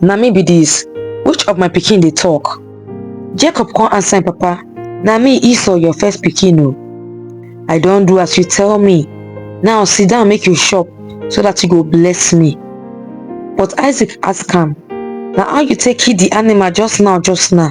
na me be dis which of my pikin dey talk jacob come answer him papa na me esau your first pikin o i don do as you tell me now sit down make you chop so that you go bless me but isaac ask am na how you take kill the animal just now just now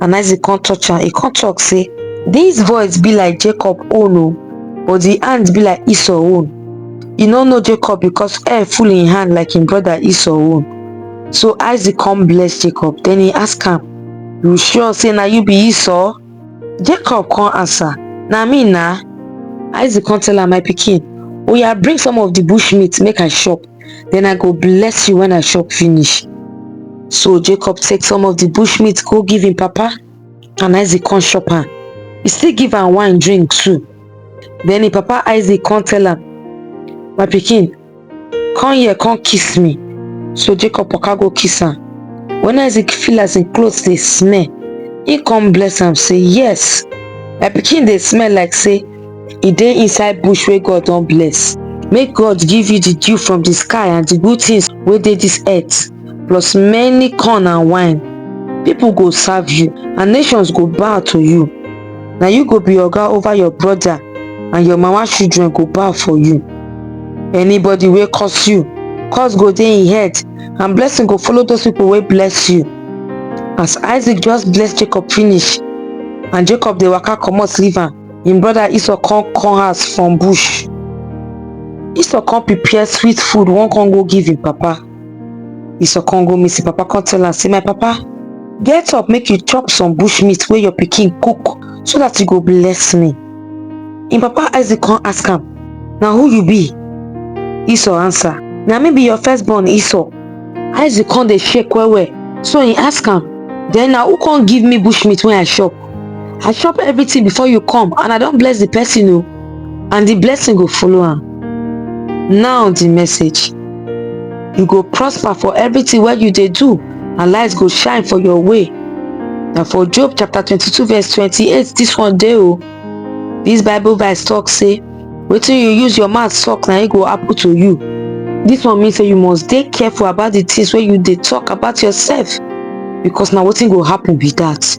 And Isaac come touch am, he come talk say, This voice be like Jacob own o, oh, but the hand be like Esau own. You no know Jacob because air full in hand like him brother Esau own. So Isaac come bless Jacob, then he ask am, You sure say na you be Esau? Jacob come answer, Na me na. Isaac come tell am, My pikin, oya oh, bring some of the bush meat make I chop. then I go bless you when I chop finish. So Jacob take some of the bush meat go give him papa and Isaac come chop am. He still give am wine drink too. Then him papa Isaac come tell am, my pikin, come here come kiss me. So Jacob waka go kiss am. When Isaac feel as him clothes dey smell, he come bless am say, yes, my pikin dey smell like say e dey inside bush wey god don bless make god give you the dew from the sky and the good things wey dey this earth plus many corn and wine people go serve you and nations go bow to you na you go be oga over your brother and your mama children go bow for you anybody wey curse you curse go dey im head and blessing go follow those people wey bless you as isaac just bless jacob finish and jacob dey waka comot leave am Him brother Esau come come house from bush. Esau come prepare sweet food, one come go give him papa. Esau come go meet him papa, come tell am say, my papa, get up make you chop some bush meat wey your pikin cook so that you go bless me. Him papa Isaac come ask am, na who you be? Esau answer, na me be your firstborn Esau. Isaac come dey shake well well, so he ask am, then na who come give me bush meat wey I chop? i chop everything before you come and i don bless the person o and the blessing go follow am now the message you go prosper for everything wey you dey do and light go shine for your way na for job chapter 22 verse 28 this one dey o this bible verse talk say wetin you use your mouth talk na e go happen to you this one mean say you must dey careful about the things wey you dey talk about yourself because na wetin go happen be that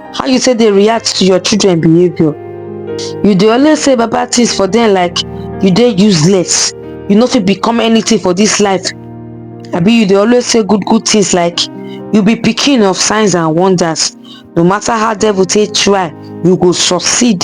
how you take dey react to your children behaviour you dey always say bad bad things for them like you dey useless you no fit become anything for this life abi you dey always say good good things like you be pikin of signs and wonders no matter how devil take try you go succeed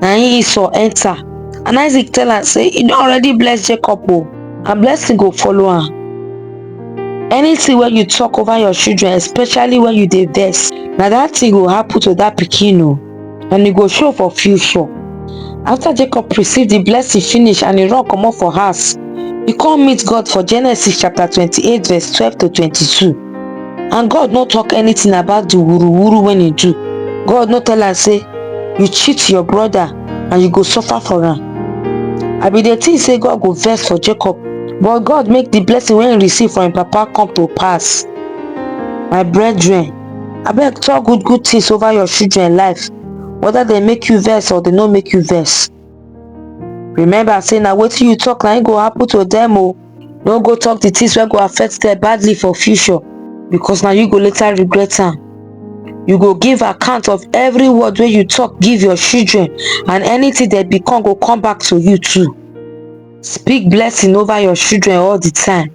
na im esau enter and isaac tell am say he don already bless jacob o and blessing go follow am anything wey you talk over your children especially when you dey vex na that thing go happen to that pikin o and e go show for future after jacob receive the blessing finish and he run comot for house he come meet god for genesis chapter twenty-eight verse twelve to twenty-two and god no talk anything about the wuru wuru when he do god no tell am say you cheat your brother and you go suffer for am i bin dey think say god go vex for jacob but god make the blessing wey he receive from him papa come to pass my brethren abeg talk good good things over your children life whether dem make you vex or dem no make you vex remember say na wetin you talk na im go happen to them o no go talk the things wey go affect them badly for future because na you go later regret am you go give account of every word wey you talk give your children and anything dem become go come back to you too speak blessing over your children all the time